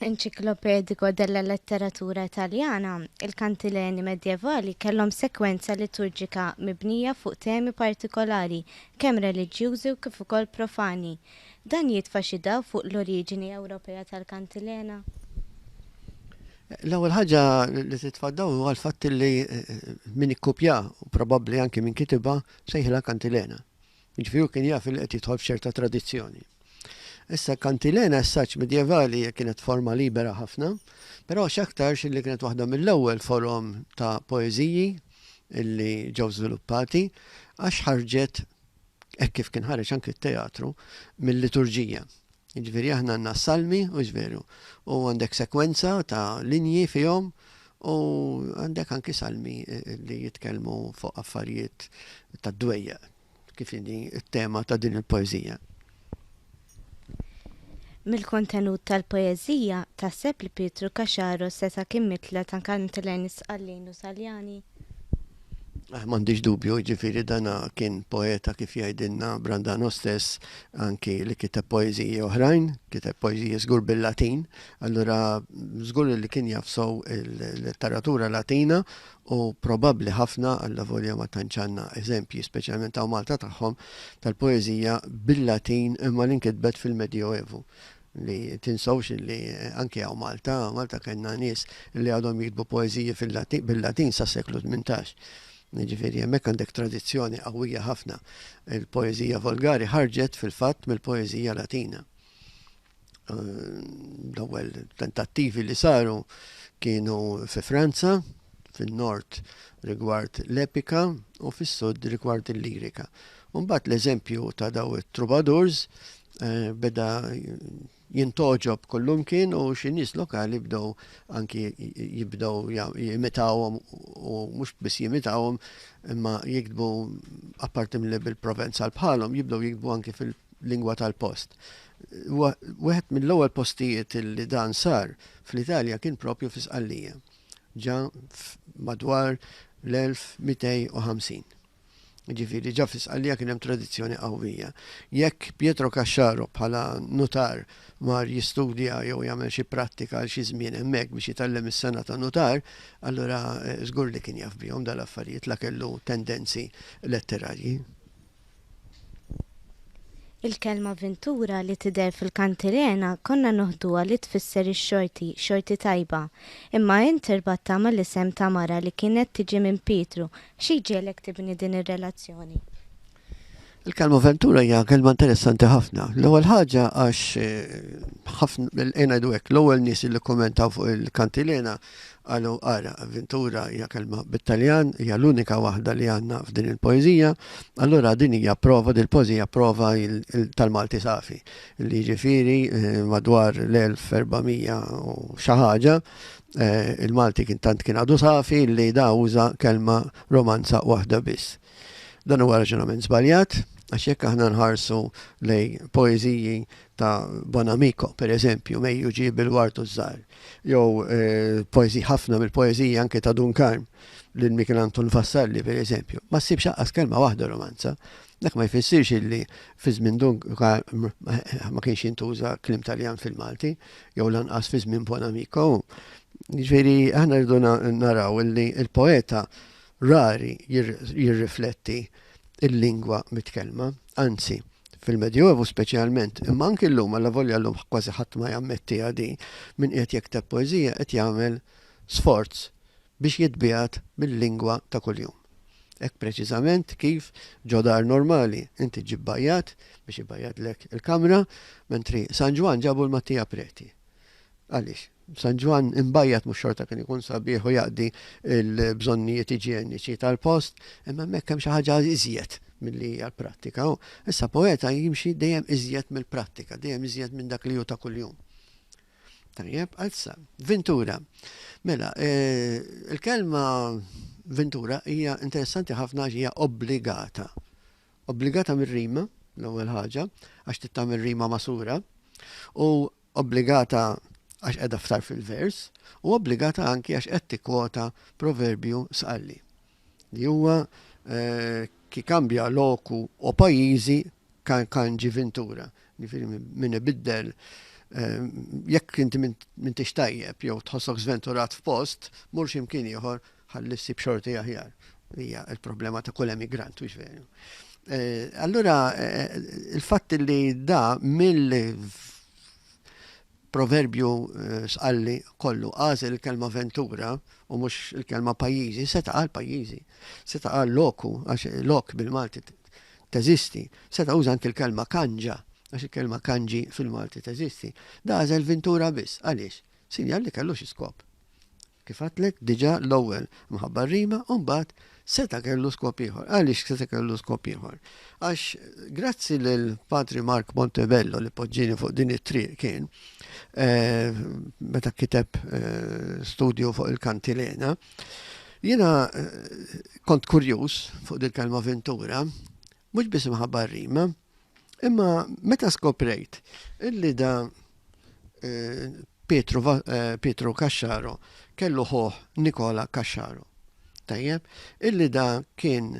Enciclopedico della Letteratura Taljana, il-kantileni Medjevali kellhom sekwenza liturġika mibnija fuq temi partikolari kemm reliġjużi u kif ukoll profani. Dan jitfa' xi dawl fuq l-oriġini Ewropea tal-kantilena? L-ewwel ħaġa li titfa' d-dawl huwa l-fatt li min ikkupjaha, u probabbli anki min kitibha, sejħilha kantilena. Jiġifieri hu kien jaf li qed jidħol f'ċerta tradizzjoni. Issa kantilena s-saċ medjevali kienet forma libera ħafna, però x'aktarx li kienet waħda mill-ewwel forom ta' poeżiji illi ġew żviluppati għax ħarġet hekk kif kien ħareġ anki t-teatru mill-liturġija. Jiġifieri aħna għandna s-Salmi, hux veru? U għandek sekwenza ta' linji fihom u għandek anki salmi li jitkellmu fuq affarijiet tad-dwejjaq kif inhi t-tema ta' din il-poeżija. Mill-kontenut tal-poeżija, taħseb li Pietru Caxaro seta' kien mitla ta' Kantileni, Sqallin u Saljani? M'għandix dubju, jiġifieri dan kien poeta kif jgħidilna Brandano stess anki li kiteb poeżiji oħrajn, kiteb poeżiji żgur bil-Latin, allura żgur li kien jaf sew il-letteratura Latina u probabbli ħafna alla volja ma tantx għandna eżempji speċjalment hawn Malta tagħhom tal-poeżija bil-Latin imma li nkitbet fil-Medjoevu. Li tinsewx illi anki hawn Malta, Malta kellna nies illi għadhom jiktbu poeżiji fil-Latin, bil-Latin sas-seklu tmintax. Jiġifieri hemmhekk għandek tradizzjoni qawwija ħafna. Il-poeżija volgari ħarġet fil-fatt mill-poeżija Latina. L-ewwel tentattivi li saru kienu fi Franza, fin-Nord rigward l-epika u fis-Sud rigward il-lirika. U mbagħad l-eżempju ta' daw it-troubadours Eh, beda jintoġob kollumkien u xi nies lokali bdew anki jibdew jimitawhom u mhux biss jimitawhom imma jiktbu apparti mill bil-Provenzal bħalhom jibdew jiktbu anki fil-lingwa tal-post. Wieħed mill-ewwel postijiet li dan sar fl-Italja kien propju fi Sqallija. Ġa madwar l-1250. Jiġifieri ġa fi Sqallija kien hemm tradizzjoni qawwija. Jekk Pietro Caxaro bħala nutar mar jistudja jew jagħmel xi prattika għal xi żmien hemmhekk biex jitgħallem is-sengħa ta' nutar, allura żgur li kien jaf bihom dal-affarijiet la kellu tendenzi letterarji. Il-kelma vintura li tidher fil-Kantilena konna noħduha li tfisser ix-xorti, xorti tajba. Imma int irbattha mal-isem ta' mara li kienet tiġi minn Pietru Xi jġiegħlek tibni din ir-relazzjoni? Il-kelma avventura hija kelma interessanti ħafna. L-ewwel ħaġa għax eh, ħafna ngħidu hekk l-ewwel nies li kommentaw fuq il-kantilena qalu ara avventura hija kelma bit-Taljan hija l-unika waħda li għandna f'din il-poeżija. Allura din hija prova din il-poeżija prova tal-Malti safi li jiġifieri eh, madwar l-1400 u xi ħaġa Eh, Il-Malti kien tant kien għadu safi li da uża kelma romanza waħda biss. Dan huwa raġunament żbaljat, għax jekk aħna nħarsu lej poeżiji ta' Bonamico, per eżempju, mejju ġib il-wartu żgħar, jew eh, poeżiji ħafna mill-poeżiji anke ta' Dunkarm lil Michelanton Vassalli, per eżempju, ma ssibx aqqas kelma waħda romanza, Dak ma jfissirx illi fi żmien Dunga ma kienx jintuża kliem Taljan fil-Malti, jew lanqas fi żmien Buon Amico. Ġifieri aħna rridu naraw illi l-poeta rari jirrifletti l-lingwa mitkellma, anzi, fil-Medjuevu speċjalment, imma anki llum allavolja llum kważi ħadd ma jammettiha din, min qiegħed jikteb poeżija qed jagħmel sforz biex jitbiegħed bil-lingwa ta' kuljum. Hekk preċiżament kif ġo dar normali inti ġġib bajjad biex ibajjadlek il-kamra, mentri San Ġwann ġabu l-Mattia Preti. Għaliex? San Ġwann imbajjad mhux xorta kien ikun sabiħ u jaqdi l-bżonnijiet iġjeniċi tal-post, imma hemmhekk hemm xi ħaġa iżjed milli hija l-prattika. Issa poeta jimxi dejjem iżjed mill-prattika, dejjem iżjed minn dak li hu ta' kuljum. Tajjeb, għazza. Ventura. Mela, eh, il-kelma Ventura hija interessanti ħafna għax hija obbligata. Obbligata mir-rima, l-ewwel ħaġa, għax tittam ir-rima masura, u obbligata għax qiegħda ftar fil-vers, u obbligata anki għax qed tikkwota proverbju sqalli. li huwa ki kambja loku o pajjiżi kan ġi vintura. Ġifieri min ibiddel jekk inti m'intix tajjeb jew tħossok żventurat f'post, mur xi mkien ieħor ħalli ssib xorti aħjar. Hija l-problema ta' kull emigrant, mhux veru? Allura il-fatt li da mill Proverbju Sqalli kollu għażel il-kelma ventura u mhux il-kelma pajjiżi, seta' qal pajjiżi, seta' qal loku għax lok bil-Malti teżisti, seta' uża anki l-kelma kanġa għax il-kelma kanġi fil-Malti teżisti. Dażel vintura biss. Għaliex? Sinjal li kellu xi skop. Kif għedtlek diġà l-ewwel mħabba r-rima u mbagħad seta' kellu skop ieħor. Għaliex seta' kellu skop ieħor? Għax grazzi lil Patri Mark Montebello li poġġieni fuq din it-triq kien meta kiteb studju fuq il-kantilena, jiena kont kurjuż fuq dil-kelma vintura, mhux biss imħabba r-rima, Imma meta skoprejt illi da eh, Pietru, eh, Pietru Kaxxaro kellu ħoħ Nikola Kaxxaro. Tajjeb, illi da kien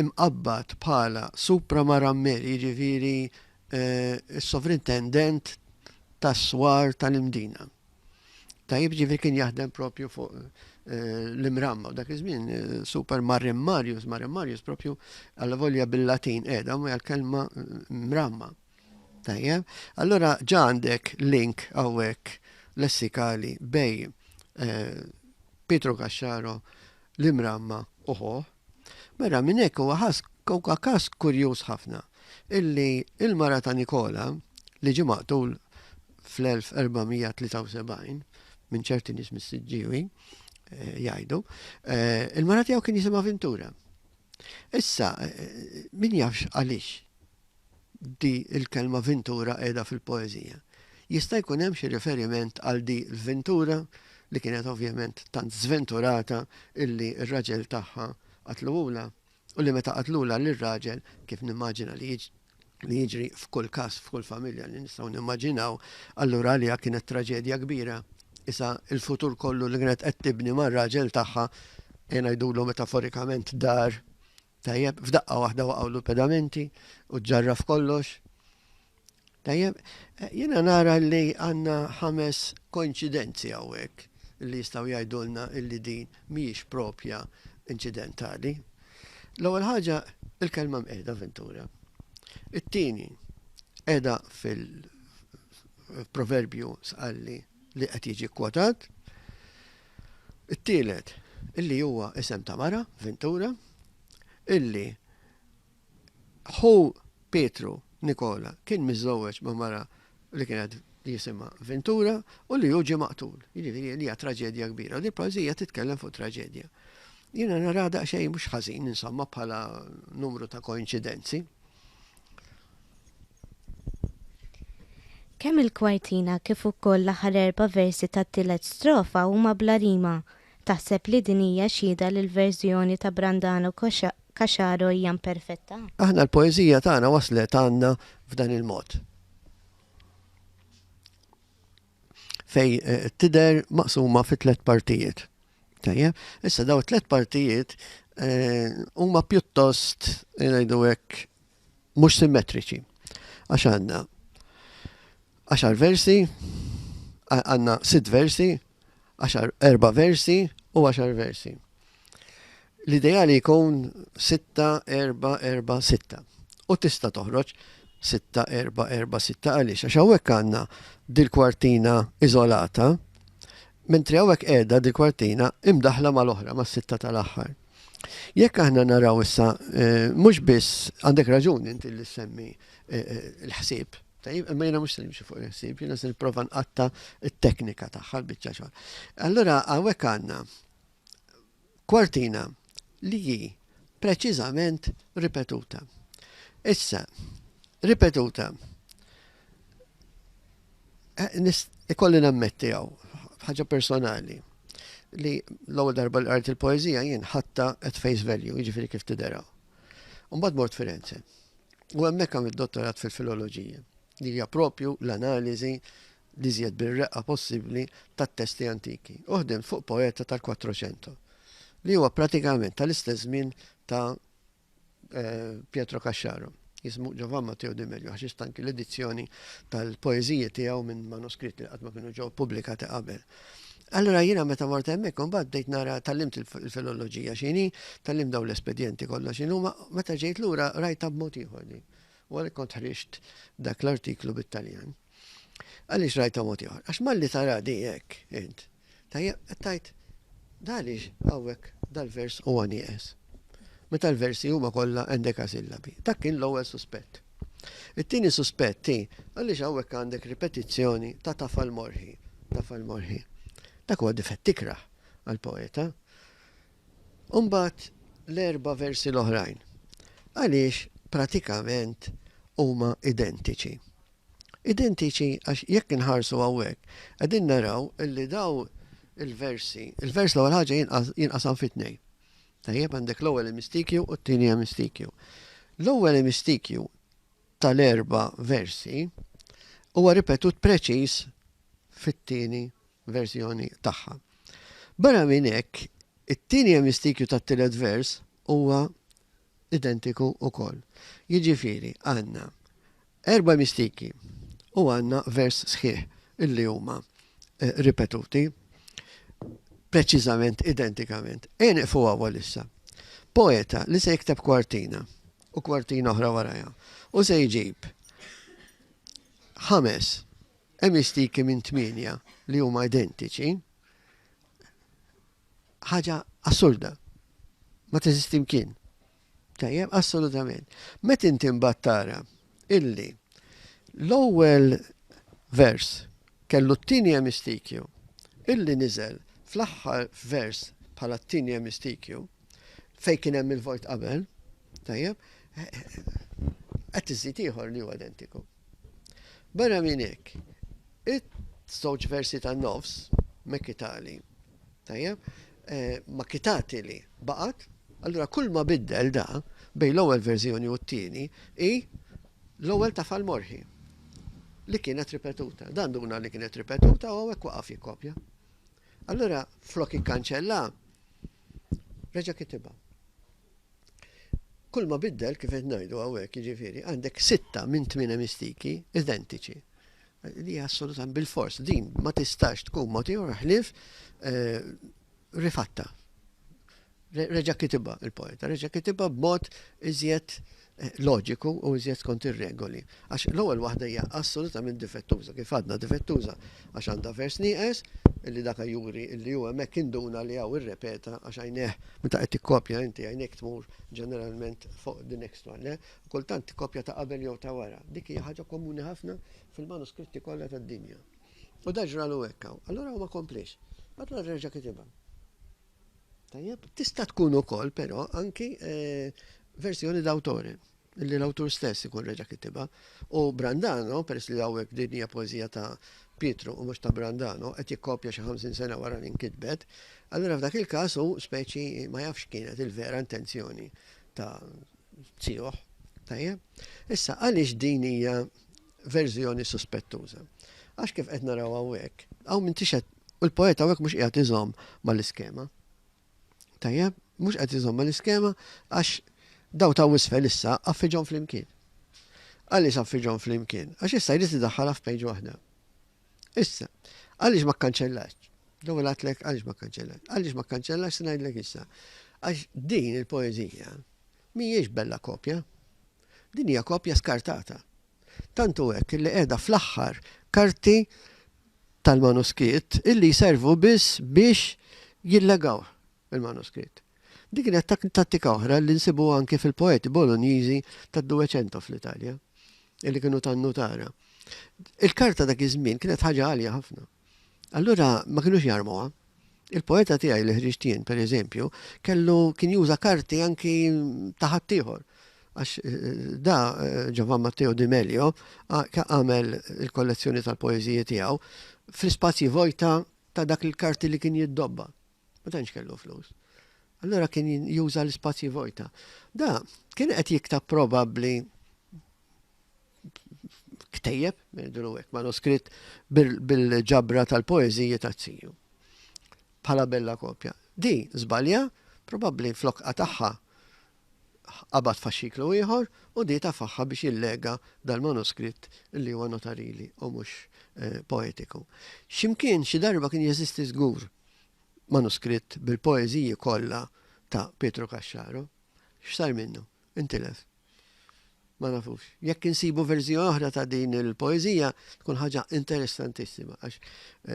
imqabbat bħala supra marammer, jiġifieri eh, s-sovrintendent tas-swar tal-imdina. Tajjeb ġifieri kien jaħdem propju fuq l-imramma u dak iż-żmien super Marim Marius, Marim Marius propju għal volja bil-Latin qiegħda ma l-kelma mramma. Tajjeb, allura ġa għandek link hawnhekk lessikali bej Pietro Kaxxaro l-imramma uħuħ Barra minn hekk huwa ħass huwa każ kurjuż ħafna illi l-mara ta' Nikola li ġie maqtul fl-1473 minn ċerti nies mis-Siġġiewi jgħidu, il-mara tiegħu kien jisimha Vintura. Issa min jafx għaliex? di l-kelma vintura qiegħda fil-poeżija. Jista' jkun hemm xi riferiment għal di l-vintura li kienet ovvjament tant żventurata illi r-raġel tagħha qatluhulha u li meta qatlulha lir-raġel, kif nimmaġina li li jiġri f'kull każ f'kull familja li nistgħu nimmaġinaw, allura għaliha kienet traġedja kbira. Isa l-futur kollu li kienet qed tibni mar-raġel tagħha, ejja ngħidulu metaforikament dar, Tajjeb, f'daqqa waħda waqgħulu l-pedamenti u ġġarraf kollox. Tajjeb, eh, jiena nara li għandna ħames koinċidenzi hawnhekk li jistgħu jgħidulna illi din mhijiex propja inċidentali. L-ewwel ħaġa il-kelma mqiegħda Ventura. It-tieni qiegħda fil-proverbju sqalli li qed jiġi kwotat. It-tielet, illi huwa isem ta' mara, Vintura, illi ħu Pietru, Nikola, kien miżżewweġ ma' mara li kienet jisimha Vintura u li hu ġie maqtul. Jiġifieri li hija traġedja kbira. Din poeżija titkellem fuq traġedja. Jiena naraha daqsxejn mhux ħażin, insomma, bħala numru ta' koinċidenzi. Kemm il-kwartina kif ukoll l-aħħar erba' versi tat-tielet strofa huma bla rima. Taħseb li din hija xhieda li l-verżjoni ta' Brandano Caxaro hija mperfetta? Aħna l-poeżija tagħna waslet għandna f'dan il-mod, fejn tidher maqsuma fi tliet partijiet. Tajjeb, issa dawn it-tliet partijiet huma pjuttost ngħidu hekk mhux simmetriċi. Għax għandna għaxar versi, għandna sitt versi, għaxar erba' versi u għaxar versi. L-ideali jkun sitta, erba, erba, sitta. U tista' toħroġ sitta, erba, erba, sitta għaliex. Għax hawnhekk għandna dil-kwartina iżolata, mentri hawnhekk qiegħda dil-kwartina imdaħla mal-oħra mas-sitta tal-aħħar. Jekk aħna naraw issa, eh, mhux biss għandek raġun inti li semmi eh, eh, l-ħsieb, tajjeb, imma jiena mhux se nimxi fuq il-ħsieb, jiena se nipprova nqatta t-teknika tagħha l-biċċa xogħol. Allura hawnhekk għandna kwartina li hi preċiżament ripetuta. Issa, ripetuta Ikolli nammetti għaw, ħaġa personali, li l-ewwel darba l għart il-poezija jien ħatta at face value, jiġifieri kif tidera. Mbagħad mort Firenze. U hemmhekk għamilt dottorat fil-filoloġija, li hija propju l-analiżi li żjed bir-reqqa possibbli tat-testi antiki. Uħdem fuq poeta tal-400, li huwa pratikament tal-istess żmien ta' Pietro Caxxaro, jismu Giovan Matteo De Melio, għax istanki l-edizzjoni tal-poeżiji tiegħu minn manuskritti li qatt ma kienu ġew pubblikati qabel. Allura jiena meta mort hemmhekk imbagħad bdejt nara tallimt il-filoloġija x'inhi, tallimt dawn l-espedjenti kollha x'inhuma, meta ġejt lura rajtha b'mod ieħor din. U għalhekk kont ħriġt dak l-artiklu bit-Taljan. Għaliex rajtha mod ieħor? Għax malli tara di hekk int, Tajjeb, qed tgħid, da għaliex hawnhekk dal-vers huwa nieqes. Meta l-versi huma kollha endekasillabi. Dak kien l-ewwel suspett. It-tieni suspett hi għaliex hawnhekk għandek ripetizzjoni ta' tafal morħi, tafal morħi. Dak huwa difett tikrah għall-poeta. U mbagħad l-erba' versi l-oħrajn. Għaliex pratikament huma identiċi. Identiċi għax jekk inħarsu hawnhekk qegħdin naraw illi dawn il-versi, il-vers l-ewwel ħaġa jinqasam fi tnejn. Tajjeb għandek l-ewwel emistikju u t-tieni emistikju. L-ewwel emistikju tal-erba' versi huwa ripetut preċiż fit-tieni verżjoni tagħha. Barra minn hekk, it-tieni emistikju tat-tielet vers huwa identiku wkoll. Jiġifieri għandna erba' mistiki u għandna vers sħiħ li huma ripetuti preċiżament identikament. Ejja nieqfu hawn għalissa. Poeta li se jikteb kwartina u kwartina oħra warajha u se jġib ħames emistiki minn tmienja li huma identiċi, ħaġa assurda. Ma teżisti mkien. Tajjeb, assolutament. Met inti mbagħad tara illi l-ewwel vers kellu t-tieni emistikju illi niżel fl-aħħar vers bħala t-tieni emistikju fej kien hemm il-vojt qabel, tajjeb, qed iżid ieħor li huwa identiku. Barra minn hekk, it-żewġ versi tan-nofs mekitali Tajjeb, ma kitati li baqgħet, allura kull ma biddel da bejn l-ewwel verżjoni u t-tieni hi l-ewwel ta' Falmorħi li kienet ripetuta. Dan duna li kienet ripetuta u għawek waqaf jikkopja. Allura, flok ikkanċella, reġa kitiba. Kull ma biddel kif qed ngħidu hawnhekk jiġifieri għandek sitta minn tmien mistiki identiċi. Din hija assolutament bilfors, din ma tistax tkun mogħtija ħlief rifatta. Reġa' kitibha il-poeta, reġa' kitibha b'mod iżjed loġiku u iżjed skont ir-regoli. Għax l-ewwel waħda hija assolutament difettuża, kif għadna difettuża għax għandha vers nieqes li dak juri li hu hemmhekk induna li hawn irrepeta għax għajnejh meta qed tikkopja inti għajnejk tmur ġeneralment fuq the next one, le? u kultant kopja ta' qabel jew ta' wara. Dik hija ħaġa komuni ħafna fil-manuskritti kollha tad-dinja. U dan ġralu hekk hawn. Allura hu ma kompliex. Allura reġa' kitibha. Tajjeb? Tista' tkun ukoll però anki verżjoni d'autore li l-awtur stess ikun reġa' kitibha. U Brandano, peress li hawnhekk din hija poeżija ta' Pietru u mhux ta' Brandano, qed jikkopja xi 50 sena wara li nkitbet, allura f'dak il-każ hu speċi ma jafx x'kienet il-vera intenzjoni ta' Tiegħu. Tajjeb. Issa għaliex din hija verżjoni suspettuża? Għax kif qed naraw hawnhekk, hawn minn tixed u l-poeta hawnhekk mhux qiegħed iżomm mal-iskema. Tajjeb, mhux qed iżomm mal-iskema għax daw ta' wisfel issa affiġhom flimkien. Għaliex affiġhom flimkien? Għax issa jrid idaħħalha f'pejġ waħda. Issa, għaliex ma kkanċellax? L-ewwel għatlek għaliex ma kkanċellax? Għaliex ma kkanċellax se ngħidlek issa. Għax din il-poeżija mhijiex bella kopja. Din hija kopja skartata. Tantu hekk li qiegħda fl-aħħar karti tal-manuskritt illi jservu biss biex jillegaw il-manuskritt. Din kienet tattika oħra li nsibuha anki fil-poeti Bolonjiżi tad-Duweċento fl-Italja, li kienu ta' nnutara. Il-karta dak iż-żmien kienet ħaġa għalja ħafna. Allura ma kinux jarmuha. Il-poeta tiegħi li ħriġt jien, pereżempju, kellu kien juża karti anki ta' ħaddieħor. Għax eh, da eh, Giovan Matteo Di Melio għamel il-kollezzjoni tal-poeżiji tiegħu fl-ispazji vojta ta' dak il-karti li kien jiddobba. Ma tantx kellu flus. Allura kien juża l-ispazji vojta. Da, kien qed jiktab probabbli ktejjeb, ngħidulu hekk, manuskritt bil-ġabra tal-poeżiji ta' ziju. Bħala bella kopja. Di, żbalja, probabbli flokqa tagħha qabad faxxiklu ieħor u dieta f'agħha biex jillega dal-manuskritt li huwa notarili u mhux poetiku. X'imkien xi darba kien jeżisti żgur manuskritt bil-poeżiji kollha ta' Pietru Caxxaro. X'sar minnu? Intilef. Ma nafux. Jekk insibu verżjoni oħra ta' din il-poeżija tkun ħaġa interessantissima għax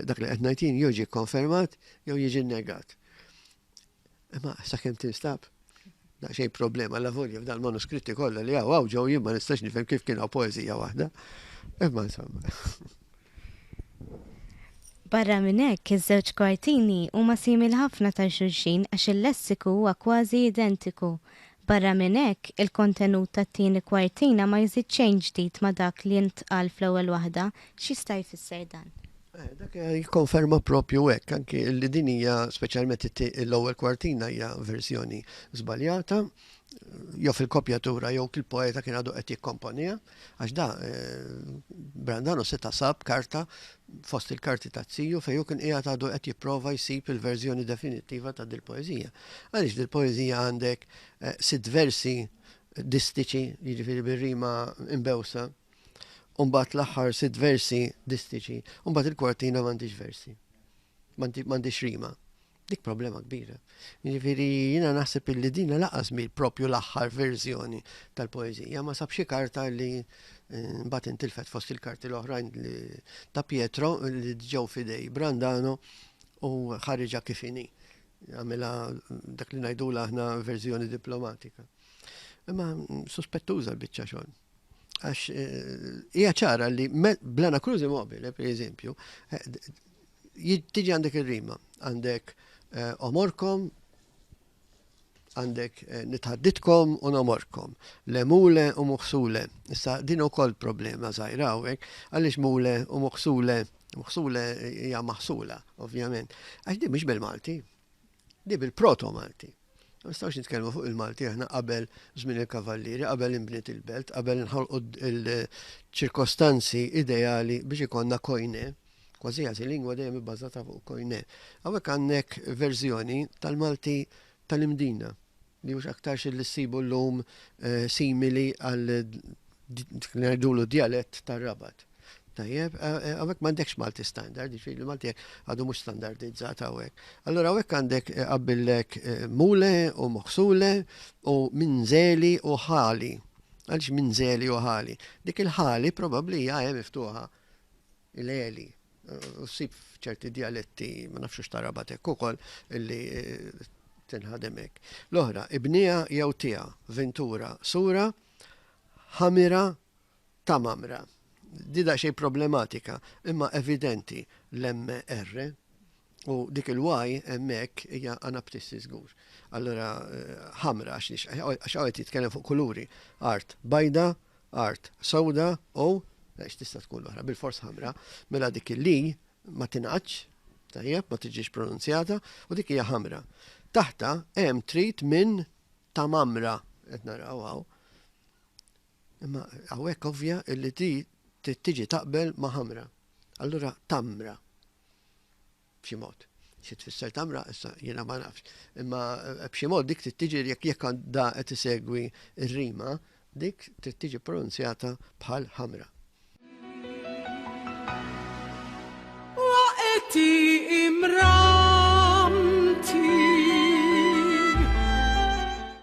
dak li qed ngħidin jew ġie kkonfermat jew jiġi nnegat. Imma sakemm tinstab daqsxejn problema la volja f'dan manuskritti kollha li hawn hawn ġew jien ma nistax nifhem kif kien hawn poeżija waħda. Imma insomma. Barra minn hekk, iż-żewġ kwartini huma simil ħafna ta' xulxin għax il-lessiku huwa kważi identiku. Barra minn hekk, il-kontenut tat-tieni kwartina ma jżid xejn ġdid ma' dak li ntqal fl-ewwel waħda. X'jista' jfisser dan? Dak jikkonferma proprju hekk, anki li din hija, speċjalment l-ewwel kwartina hija verżjoni żbaljata, jew fil-kopjatura jew il-poeta kien għadu qed jikkomponiha. Għax da, Brandano se tasab karta fost il-karti ta' ziju fej u kien qiegħed għadu qed jipprova jsib il-verżjoni definittiva ta' dil-poeżija. Għaliex dil-poeżija għandek eh, sitt versi distiċi, jiġifieri bir-rima imbewsa, u mbagħad l-aħħar sitt versi distiċi, u mbagħad il-kwartina m'għandix versi. M'għandix rima. Dik problema kbira. Ġifiri, jina naħseb illi dina laqas mi propju l-axħar verżjoni tal-poezija, ma sabxi karta li eh, bat intilfet fost il-karti l-oħrajn ta' Pietro li ġew fidej Brandano u ħarġa kifini. Għamela dak li najdu aħna verżjoni diplomatika. Imma suspettuża l-bicċa xogħol. Għax hija ċara li blana krużi mobile, per eżempju, tiġi għandek ir-rima, għandek eh, omorkom, għandek eh, nitħadditkom u nomorkom, le mule u muħsule. Issa din ukoll problema żgħira hawnhekk, għaliex mule u muħsule, muħsule hija maħsula, ovvjament. Għax din mhix bil-Malti. Di bil-Proto Malti. Ma nistgħux nitkellmu fuq il-Malti aħna qabel żmien il-Kavallieri, qabel inbniet il-belt, qabel inħolqu l-ċirkostanzi ideali biex ikonna kojne. Kważi għażi lingwa dejjem ibbażata fuq kojne. Hawnhekk għandek verżjoni tal-Malti tal-imdina. li mhux aktarx li ssibu llum simili għal dik li ngħidulu djalett tar-Rabat. Tajjeb, hawnhekk m'għandekx Malti standard, jiġifieri l-Malti għadu mhux standardizzat hawnhekk. Allura hawnhekk għandek qabillek mule u moħsule u minżeli u ħali. Għaliex minżeli u ħali? Dik il-ħali probabbli hija e miftuħa il-għeli. U ssib f'ċerti djaletti, ma nafx hux tarabat hekk ukoll, illi eh, tinħadem hekk. L-oħra, ibnija jew tiegħa, vintura, sura, ħamira, tamamra. Dida xej problematika, imma evidenti l-MR, U dik il-Y hemmhekk hija anaptissi żgur. Allura ħamra għax hawn qed jitkellem fuq kuluri. Art bajda, art sewda u għax tista' tkun oħra bil-fors ħamra, mela dik il-li ma tingħadx, tajjeb, ma tiġix pronunzjata u dik hija ħamra. Taħta hemm trid minn ta' mamra qed naraw hawn. Imma hawnhekk ovvja illi ti tiġi taqbel ma' ħamra. Allura tamra, B'xi mod. Xi tfisser tamra, issa jiena ma nafx. Imma eh, b'xi mod dik trid tiġi jekk jekk għandha qed isegwi r-rima, dik trid tiġi pronunzjata bħal ħamra. Waqti imramti.